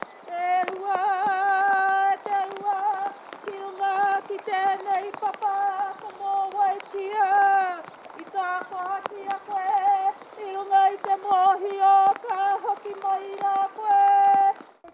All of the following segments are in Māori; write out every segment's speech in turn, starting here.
Te ua, te ua, ki runga ki tēnei papa ka mōwaitia i tā kohaki a koe i runga i te mōhio ka hoki mai rā koe.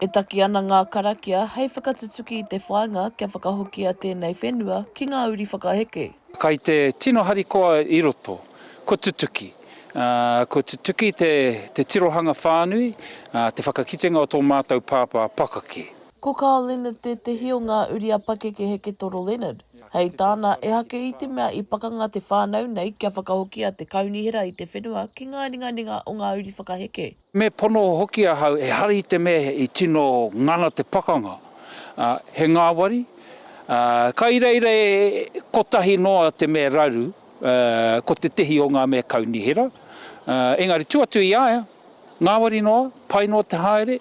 E taki ana ngā karakia hei whakatutuki i te whāinga kia whakahokia tēnei whenua ki ngā uri whakaheke. Kai te tino harikoa i roto, kua tutuki. Kua tutuki te tirohanga whānui, te whakakitenga o tō mātou pāpā pakake. Ko Carl Leonard tētehi o ngā uri a Pakeke Heketoro Leonard. Hei tāna, ehake i te mea i pakanga te whānau nei kia whakahokia te kaunihera i te whenua ki ngā ringaringa o ngā uri whakaheke. Me pono hoki ahau ehara i te mea i tino ngana te pakanga, ā, he ngāwari, ā, ka iraira e kotahi noa te mea raru, ā, ko tētehi o ngā mea kaunihera, ā, engari tū atu i a ia, ngāwari noa, pai noa te haere.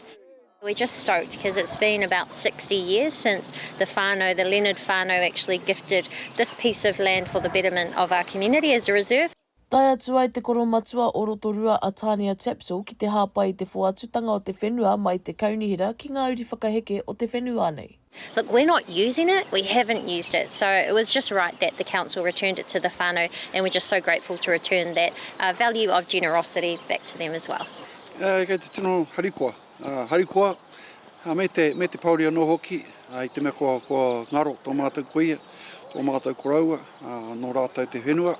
We're just stoked cuz it's been about sixty years since the whānau, the Leonard whānau actually gifted this piece of land for the betterment of our community as a reserve. Tae atu ai te koromatua o Rotorua a Tania Tapsell ki te hāpai i te whoatutanga o te whenua mai te kaunihera ki ngā uri whakaheke o te whenuaa nei. Look, we're not using it, we haven't used it, so it was just right that the council returned it to the whānau and we're just so grateful to return that value of generosity back to them as well. Kei te tino harikoa. Harikoa, me te, me te pouri anō hoki, i te mea kua, kua ngaro tō mātou kuia, tō mātou koroua, nō rātou te whenua,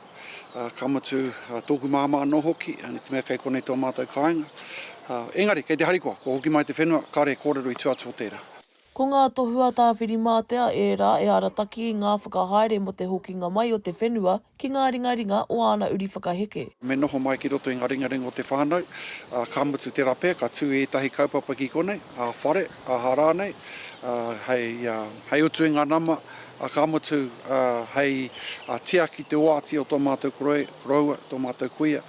ka mutu tōku māmā anō hoki, i te mea kei konei tō mātou kāinga. Engari, kei te harikoa, kua hoki mai te whenua, kāre e kōrero i tua atu o tērā. Ko ngā tohu a Tā Whirimātea ērā e arataki i ngā whakahaere mō te hokinga mai o te whenua ki ngā ringaringa o āna uri whakaheke. Me noho mai ki roto i ngā ringaringa o te whānau, ā, ka mutu tērā pea ka tū ētahi kaupapa ki konei, ā-whare, aha rānei, ā, hei, ā, hei utu i ngā nama, ā, ka mutu, ā, hei, ā, tiaki te oati o tō mātou koroua, tō mātou kuia.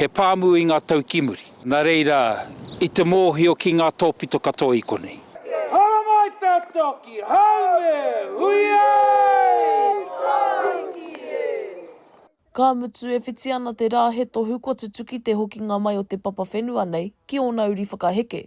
He pāmu i ngā tau ki muri. Nā reira, i te mōhio ki ngā tōpito katoa i konei. Haramai tātou ki haumē, hui ai! Tāiki e! Ka mutu, e whiti ana te rā he tohu kua tutuki te hokinga mai o te papa whenua nei ki ōna uri whakaheke.